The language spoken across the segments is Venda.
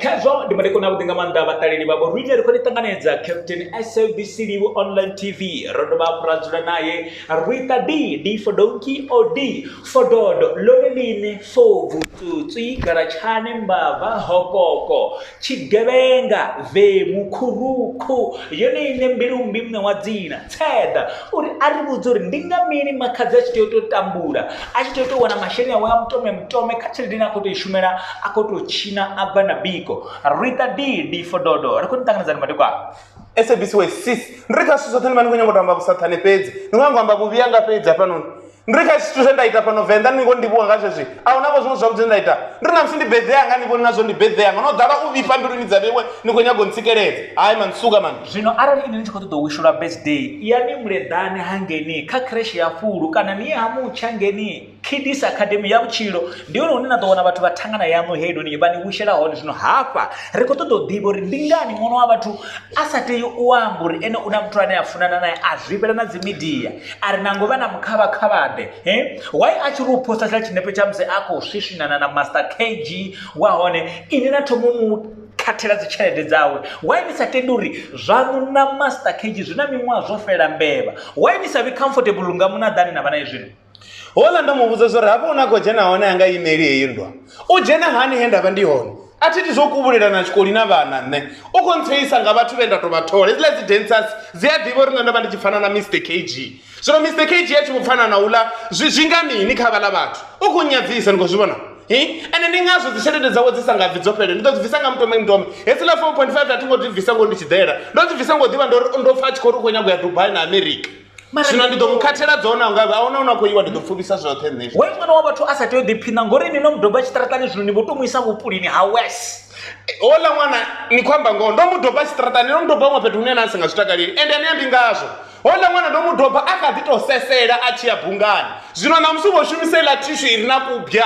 khazwo ndi madekoni avhuḓi nga maanḓa vhaṱaleli vhavho riṋe ri khou ni ṱanganedza captain sabc live online tv ro dovha hafhu ra dzula naye rita d d for donki o d for dodo lone ḽine fovu tsutswi galatshane mbava hokoko tshigevhenga vemu khurukhu yone ine mbilumbi muṋe wa dzina Theḓa uri a ri vhudze uri ndi nga mini makhadzi a tshi tea u tou tambula a tshi tea u tou wana masheleni awe a mutome mutome kha tshelede ine a khou tou i shumela a khou tou tshina a bva na biko rita didi fododo ri khou ni ṱanganedzani madekwana sabc wa sis ndi ri kha zwithu zwoṱhe ni vha ni khou nyanga u tou amba vhusaṱhane fhedzi ni khou nyanga u amba vhuvhi anga fhedzi hafhanoni ndi ri kha zwithu zwe nda ita fhano venḓa ni ngo ndivhuwa nga zwezwi a hu navho zwiṅwe zwavhuḓi nda ita ndi ri na musi ndi beḓea nga ni vhoni nazwo ndi beḓea nga no ḓala u vhifha mbiluni dza vhewe ni khou nyaga u ntsikeledza hayi mani suka mani zwino arali ini ni tshi khou ṱoḓa u wishulwa birthday ya ni muleḓane ha ngeni kha kreshe ya fulu kana ni ye ha mutsha ngeni kidis academy ya vhutshilo ndi yone hune na ḓo wana vhathu vha thangana yaṋu heiloni vha ni wishela hone zwino hafha ri khou ṱoḓa u ḓivha uri ndi ngani ṅwana wa vhathu a sa tei u amba uri ene u na muthu ane a funana naye a zwifhela na dzi midia a ri nango vha na mukhavhakhavhaḓe he why a tshi ri u posta tshiḽa tshinepe tsha musi a khou swiswinana na master kg wa hone ini na thomo mu khathela dzi tshelede dzawe why ni sa tendi uri zwaṋu na master kg zwi na miṅwaha zwo fhela mbevha why ni sa vhi comfortable nga munaḓani na vha na izwino hola nda mu vhudza zwa uri hafho hune a khou dzhena hone a nga imeli heyi nndwa U dzhena hani he nda vha ndi hone? A thi iti zwa u kuvhulelana tshikoli na vhana nṋe. U khou ntseyisa nga vhathu vhe nda tou vha thola. Hedziḽa dzi dancers dzi a ḓivha uri nṋe ndo vha ndi tshi pfana na Mister KG. Zwino Mister KG a tshi vho pfana na uḽa zwi zwi nga mini kha vhaḽa vhathu? U khou nnyadzisa, ni khou zwi vhona? Hi, ende ndi ngazwo dzitshelede dzawe dzi sa nga bvi dzo fhelela. Ndi ḓo dzi bvisa nga mutome mutome. Hedziḽa four point five a thi ngo dzi bvisa ngoho ndi tshi ḓela. Ndo dzi bvisa ngo ḓivha ndo ri ndo pfa a tshi khou ri u khou nyaga u ya Dubai na America. Mara- zwino ndi ḓo mu khathela dzone a nga a huna hune a khou iwa ndi ḓo pfuvisa zwoṱhe nṋe hoyo ṅwana wa vhathu a sa tea u ḓiphina ngori ini no mudoba tshiṱaratani zwino ni vho to mu isa vhupulini ha wes hola ṅwana ni khou amba ngoho ndo mu doba tshiṱaratani ndo mu doba huṅwe fhethu hune na si nga zwi takaleli ende ni ambi ngazwo hola ṅwana ndo mu doba a kha ḓi tou sesela a tshi ya bungani zwino ṋamusi u vho shumisa iḽa thishu i re na kubya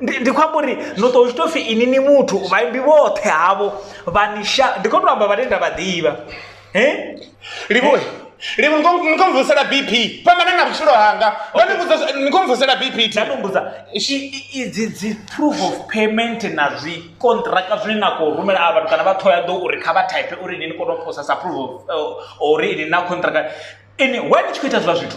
ndi ndi khou amba uri no ṱo tshi tou pfhi ini ni muthu vhaimbi vhoṱhe havho vha ni sha ndi khou tou amba vhane nda vha ḓivha he livhuwe livhu ni khou- ni khou mvusela bp fhambana na vhutshilo hanga ndo ni vhudza zwa- ni khou mvusela bp thi nda nombudza idzi dzi proof of payment na zwi kontraka zwine na khou rumela a vhathu kana vha ṱhoya ḓo uri kha vha type uri ini ni kone u posa sa proof of uh, uri ini na kontraka ini why ni tshi khou ita zwiḽa zwithu